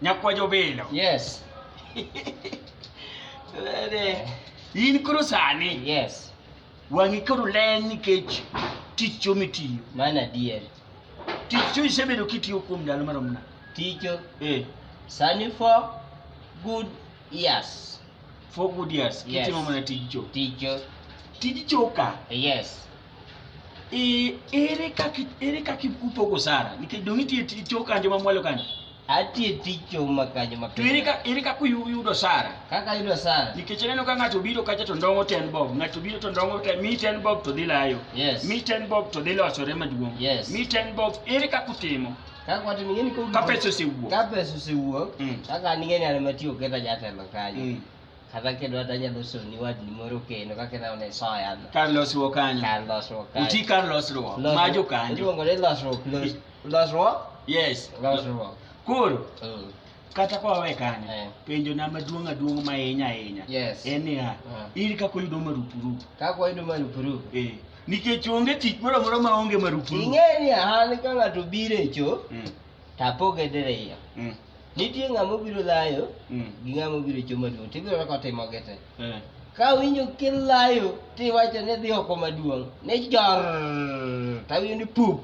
Nyakwa jobilo. Yes. In koro sani. Yes. Wang'i koro len nikech tich cho mitiyo. Mano adier. Tich cho isebedo kitiyo kuom ndalo marom nade? Ticho. Eh. Sani for good years. For good years. Yes. Kitimo mana tij cho. Ticho. Tij cho ka. Yes. E, ere kaka ere kaka upogo sara nikech dong' itie ticho kanjo mamwalo kanjo atie ticho ma kanjo ma to ere kaka ere kaka uyudo sara kaka yudo sara nikech aneno ka ng'ato biro kacha to ndong'o ten bob ng'ato biro to ndong'o ten mi ten bob to dhi layo yes mi ten bob to dhi losore maduong' Yes. mi ten bob ere kaka utimo kaka watu ningeni ko ka pesa osewuok ka pesa osewuok Mm. kaka ningeni ana matiyo keta jatelo kanyo Mm. Kata kendo kata nyalo soni wadni moro kendo kaka ineno ne soya no. kar losruok kanyo Kar losruok kanyo. uti kar losruok Losruok- ma jokanyo Iluongo ni losruok. los- Losruok? yes Losruok. koro Mm. kata kwawe kanyo Eh. penjo na maduong' aduong' mahinya ahinya Yes. en niya Ah. in kaka oyudo marupurupu Kaka wayudo marupurupu. Eh, nikech onge tich moro amora ma onge marupurupu Ing'e ni an ka ng'ato biro e cho, Mm, tapoge diriyo. mm. Nitie ng'ama obiro layo mm. gi ng'ama obiro choma duong' to ibiro ka otimo gete. Eh. Ka winjo kilayo to iwacho ni dhi oko maduong' ni jor to awinjo ni pup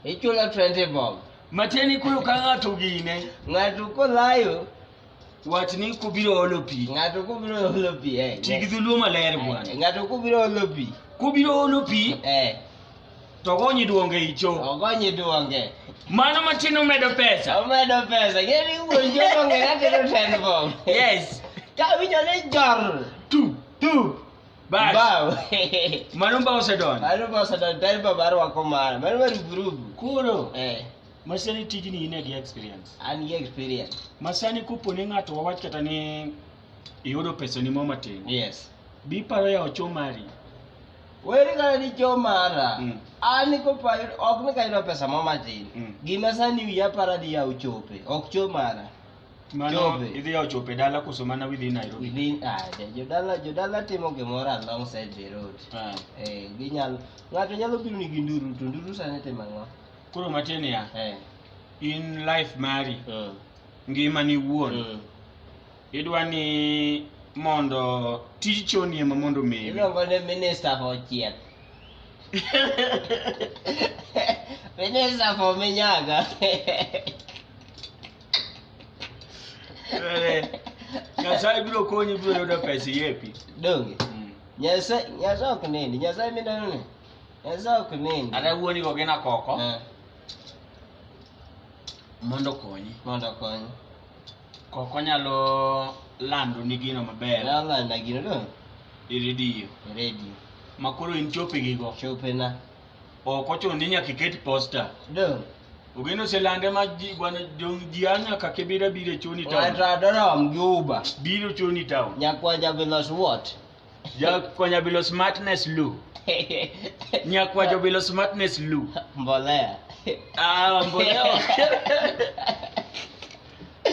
ichulo 20 bob. Matieni koro ka ng'ato gine. Ng'ato kolayo wach ni kubiro olo pi. Ng'ato kubiro olo pi. Eh, Ti gi dhuluo maler bwana. Ng'ato kubiro olo pi. Kubiro olo pi. Eh. to ogonyi duonge icho ogonyi duonge mano matin omedo pesa omedo pesa ngeni wuon jogo ng'e natero ten bob yes ka winjo ni jor tu tu bas bao mano ba osedonjo mano ba osedonjo ten bob arwako mara mano maruburubu koro eh masani tijni in gi experience an gi experience masani kupo ni ng'ato wawach kata ni iyudo pesa ni mo matin yes biparo ya ochomari Weri kare ni jo mara, Mm. an ko pa ok ni kayudo pesa mo matin. Mm. Gima sani wiya para ni yaw chope, ok cho mara. Mano Chope. idhi yawo chope dala koso mana widhi Nairobi. Within ade, jodala jodala timo gimoro alongside the road. Ah. Eh, ginyalo ng'ato nyalo biro ni gi nduru to nduru sani timo ang'o? Koro matie niya, Eh. in life mari, Mm. ngimani iwuon, Mm. Idwa ni mondo tij choni ema mondo omewi. Iluongo ni minister for chieth. minister for minyaga. Nyasaye biro konyi biro yudo pesa yepi. Donge. Mm. Nyasaye Nyasaye ok nini, Nyasaye mineno ni. Nyasaye ok nini. Ada wuoni go gina koko. Eh. Mondo konyi. Mondo konyi. Kok onyalo lando ni gino maber. Onyalo lando gino no. E redio. E redio. Ma koro in chope gi go. Chope na. Ok ochuno ni nyaka iket posta. Do. Ogeno oselande ma ji gwana jong ji anya ka kibira bire chuni town. Wata dorom gi uba. Biro chuni town. Nyakwa jabilos what? Nyakwa jabilos smartness lu. Nyakwa jabilos smartness lu. Mbolea. Ah, mbolea.